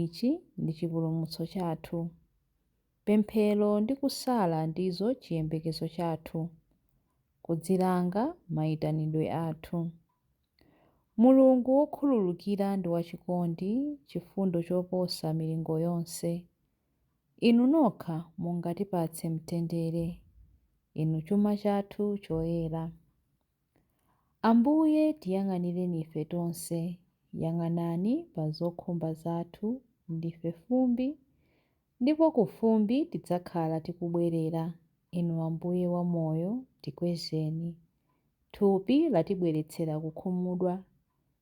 Ichi ndi chipulumutso chathu. Pemphero ndi kusala ndizo chiyembekezo chathu, kudzilanga, maitanidwe athu. Mulungu wokhululukira ndi wachikondi, chifundo choposa milingo yonse. Inu nokha mungatipatse mtendere. Inu chuma chathu choyera. Ambuye, tiyang'anireni ife tonse. Yang'anani pa zokhumba zathu, ndife fumbi, ndipo ku fumbi tidzakhala tikubwerera. Inu Ambuye wa Moyo, tikwezeni. Thupi latibweretsera kukhumudwa.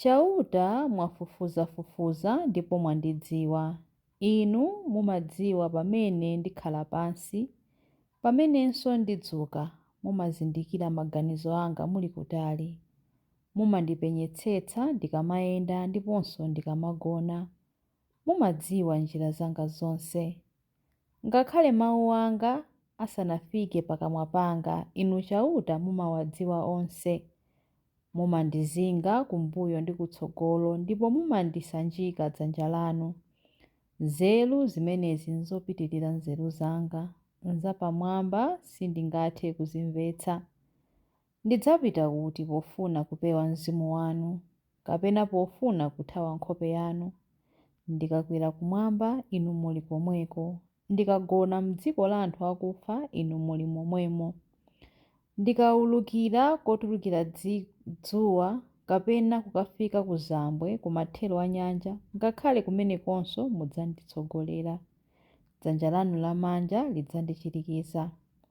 Chauta mwafufuzafufuza ndipo mwandidziwa. Inu mumadziwa pamene ndikhala pansi, pamenenso ndidzuka, mumazindikira maganizo anga muli kutali. Mumandipenyetsetsa ndikamayenda ndiponso ndikamagona, mumadziwa njira zanga zonse. Ngakhale mau anga asanafike pakamwa panga, Inu Chauta mumawadziwa onse. Mumandizinga kumbuyo ndi kutsogolo, ndipo mumandisanjika dzanja lanu. Nzeru zimenezi nzopitirira nzeru zanga, nzapamwamba, sindingathe kuzimvetsa. Ndidzapita kuti pofuna kupewa mzimu wanu, kapena pofuna kuthawa nkhope yanu? Ndikakwera kumwamba, Inu muli komweko, ndikagona m'dziko la anthu akufa, Inu muli momwemo. Ndikaulukira kotulukira dzuwa, kapena kukafika kuzambwe, kumathero a nyanja, ngakhale kumenekonso mudzanditsogolera, dzanja lanu lamanja lidzandichirikiza.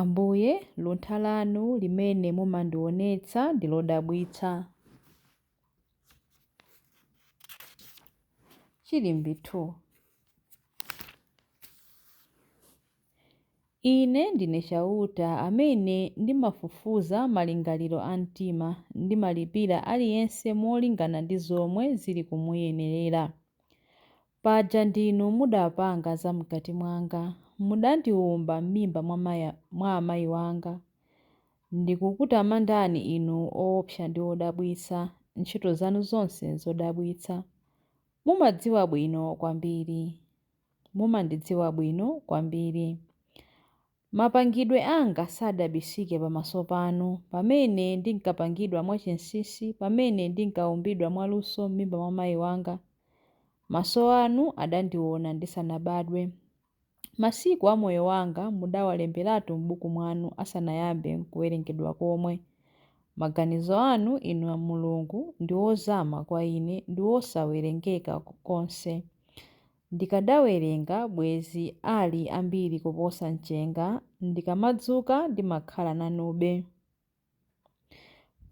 Ambuye, luntha lanu limene mumandionetsa ndi lodabwitsa. Chilimbi 2 Ine ndine Chauta amene ndimafufuza malingaliro a mtima, ndimalipira aliyense molingana ndi zomwe zili kumuyenerera. Paja ndinu mudapanga zam'kati mwanga, mudandiwumba m'mimba mwa amayi wanga. Ndikukutamandani Inu oopsa ndi odabwitsa, ntchito zanu zonse nzodabwitsa. Mumadziwa bwino kwambiri. Mumandidziwa bwino kwambiri. Mapangidwe anga sadabisike pamaso panu, pamene ndinkapangidwa mwachinsinsi, pamene ndinkaumbidwa mwaluso m'mimba mwa mayi wanga. Maso anu adandiona ndisanabadwe. Masiku a moyo wanga mudawalemberatu m'buku mwanu asanayambe nkuwerengedwa komwe. Maganizo anu, Inu Mulungu, ndi ozama kwa ine, ndi wosawerengeka konse. Ndikadawerenga bwezi ali ambiri kuposa mchenga ndikamadzuka ndimakhala nanube.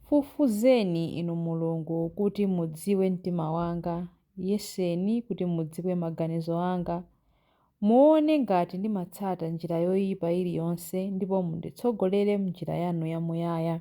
Fufuzeni inu Mulungu kuti mudziwe mtima wanga, yeseni kuti mudziwe maganizo anga. Muone ngati ndimatsata njira yoipa iliyonse ndipo munditsogolere m'njira yanu yamuyaya.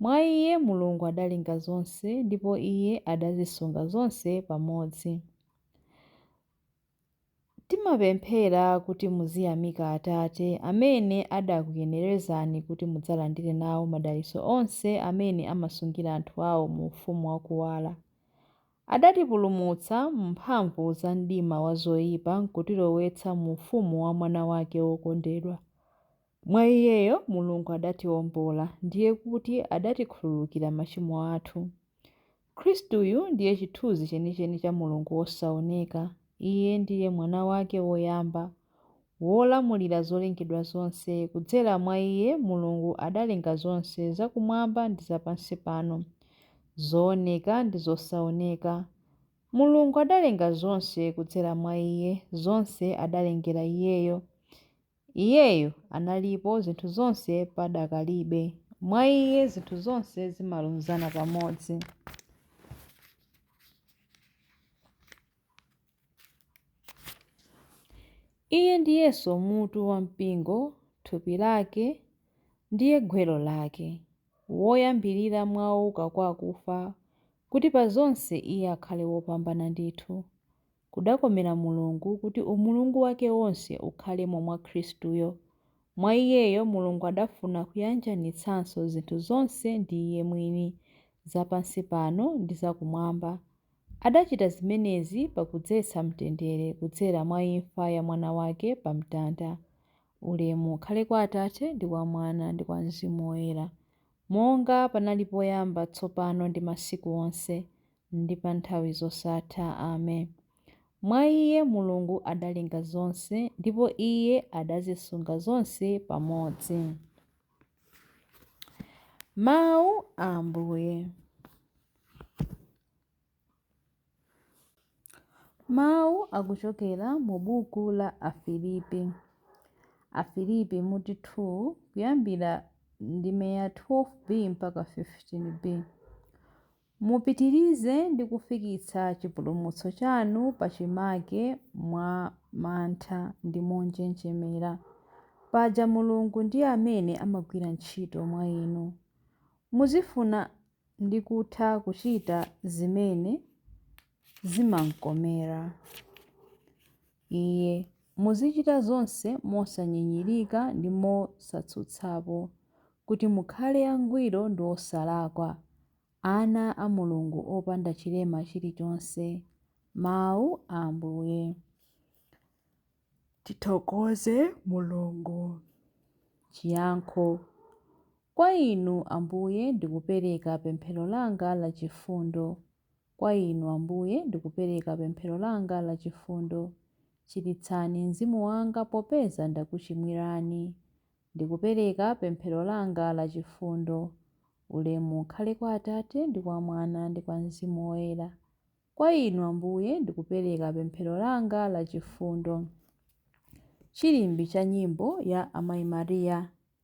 Mwa iye Mulungu adalenga zonse, ndipo iye adazisunga zonse pamodzi. Timapemphera kuti muziyamika Atate amene adakuyenerezani kuti mudzalandire nawo madalitso onse amene amasungira anthu awo mu ufumu wa kuwala. Adatipulumutsa m'mphamvu za mdima wa zoipa nkutilowetsa mu ufumu wa Mwana wake wokondedwa. Mwa Iyeyo Mulungu adatiwombola, ndiye kuti adatikhululukira machimo athu. Khristuyu ndiye chithunzi chenicheni cha Mulungu wosaoneka. Iye ndiye Mwana wake woyamba, wolamulira zolengedwa zonse. Kudzera mwa Iye Mulungu adalenga zonse zakumwamba ndi zapansi pano, zooneka ndi zosaoneka. Mulungu adalenga zonse kudzera mwa Iye, zonse adalengera Iyeyo. Iyeyo analipo zinthu zonse padakalibe. Mwa Iye zinthu zonse zimalunzana pamodzi. Iye ndiyenso mutu wa mpingo, thupi lake, ndiye gwero lake, woyambirira mwa ouka kwa akufa, kuti pa zonse Iye akhale wopambana ndithu. Kudakomera Mulungu kuti umulungu wake wonse ukhalemo mwa Khristuyo. Mwa Iyeyo Mulungu adafuna kuyanjanitsanso zinthu zonse ndi Iye mwini, za pansi pano ndi za Kumwamba. Adachita zimenezi pakudzetsa mtendere kudzera mwa imfa ya Mwana wake pa mtanda. Ulemu ukhale kwa Atate, ndi kwa Mwana, ndi kwa Mzimu Woyera, monga panali poyamba, tsopano ndi masiku onse, ndi pa nthawi zosatha. Ame. Mwa Iye Mulungu adalenga zonse, ndipo Iye adazisunga zonse pamodzi. Mawu a Ambuye. Mawu akuchokera mu buku la Afilipi. Afilipi mutu 2 kuyambira ndime ya 12b mpaka 15b. Mupitirize ndi kufikitsa chipulumutso chanu pachimake mwa mantha ndi monjenjemera. Paja Mulungu ndi amene amagwira ntchito mwa inu. Muzifuna ndi kutha kuchita zimene zimamkomera. Iye. Muzichita zonse mosanyinyirika ndi mosatsutsapo, kuti mukhale angwiro ndi osalakwa, ana a Mulungu opanda chilema chilichonse. Mawu a Ambuye. Tithokoze Mulungu. Chiyankho. Kwa Inu, Ambuye, ndikupereka pemphero langa la chifundo. Kwa Inu, Ambuye, ndikupereka pemphero langa la chifundo. Chiritsani mzimu wanga popeza ndakuchimwirani. Ndikupereka pemphero langa la chifundo. Ulemu ukhale kwa Atate, ndi kwa Mwana, ndi kwa Mzimu Woyera. Kwa Inu, Ambuye, ndikupereka pemphero langa la chifundo. Chilimbi cha Nyimbo ya Amayi Maria.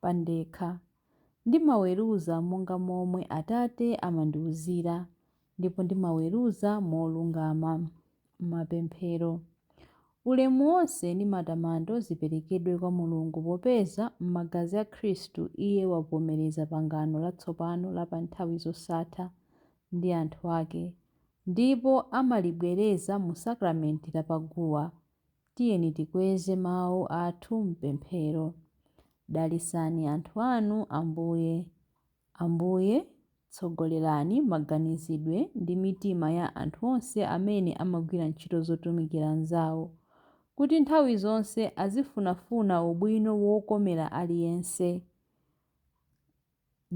pandekha. Ndimaweruza monga momwe Atate amandiuzira, ndipo ndimaweruza molungama. Mapemphero. Ulemu wonse ndi matamando ziperekedwe kwa Mulungu popeza, m'magazi a Khristu, Iye wavomereza pangano latsopano la pa nthawi zosatha ndi anthu ake, ndipo amalibwereza mu sakramenti la pa guwa. Tiyeni tikweze mawu athu m'pemphero. Dalitsani anthu anu, Ambuye. Ambuye, tsogolerani maganizidwe ndi mitima ya anthu onse amene amagwira ntchito zotumikira anzawo, kuti nthawi zonse azifunafuna ubwino wokomera aliyense.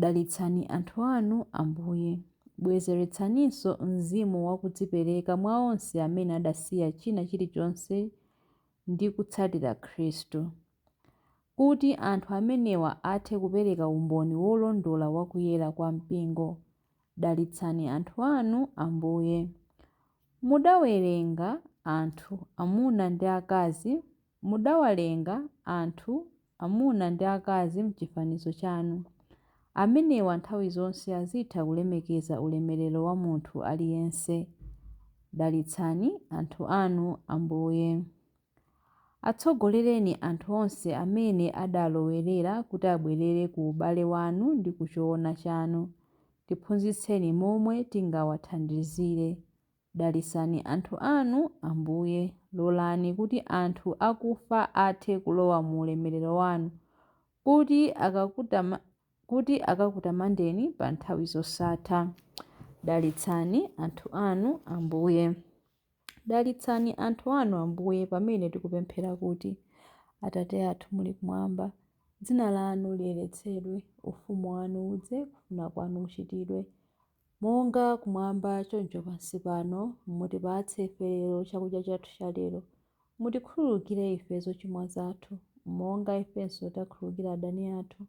Dalitsani anthu anu, Ambuye. Bwezeretsaninso mzimu wa kudzipereka mwa onse amene adasiya china chilichonse ndi kutsatira Khristu. Kuti anthu amenewa athe kupereka umboni wolondola wa kuyera kwa Mpingo. Dalitsani anthu anu, Ambuye. Mudawalenga anthu, amuna ndi akazi, Mudawalenga, anthu, amuna ndi akazi m'chifanizo chanu. Amenewa nthawi zonse azitha kulemekeza ulemerero wa munthu aliyense. Dalitsani anthu anu, Ambuye. Atsogolereni anthu onse amene adalowerera kuti abwerere ku ubale wanu ndi ku choona chanu. Tiphunzitseni momwe tingawathandizire. Dalitsani anthu anu, Ambuye. Lolani kuti anthu akufa athe kulowa mu ulemerero wanu, kuti, kuti akakutamandeni pa nthawi zosatha. Dalitsani anthu anu, Ambuye. Dalitsani anthu anu, Ambuye, pamene tikupemphera kuti, Atate athu muli kumwamba, dzina lanu liyeretsedwe, ufumu wanu udze, kufuna kwanu kuchitidwe, Monga kumwamba choncho pansi pano, mutipatse ife lero chakudya chathu cha lero. Mutikhululukire ife zochimwa zathu, monga ifenso takhululukira adani athu.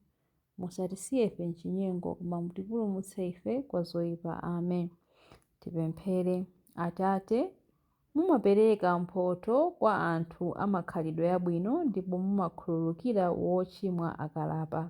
Musatisiye ife m'chinyengo, koma mutipulumutse ife kwa zoipa. Amen. Tipemphere. Atate, mumapereka mphotho kwa anthu a makhalidwe abwino ndipo mumakhululukira wochimwa akalapa.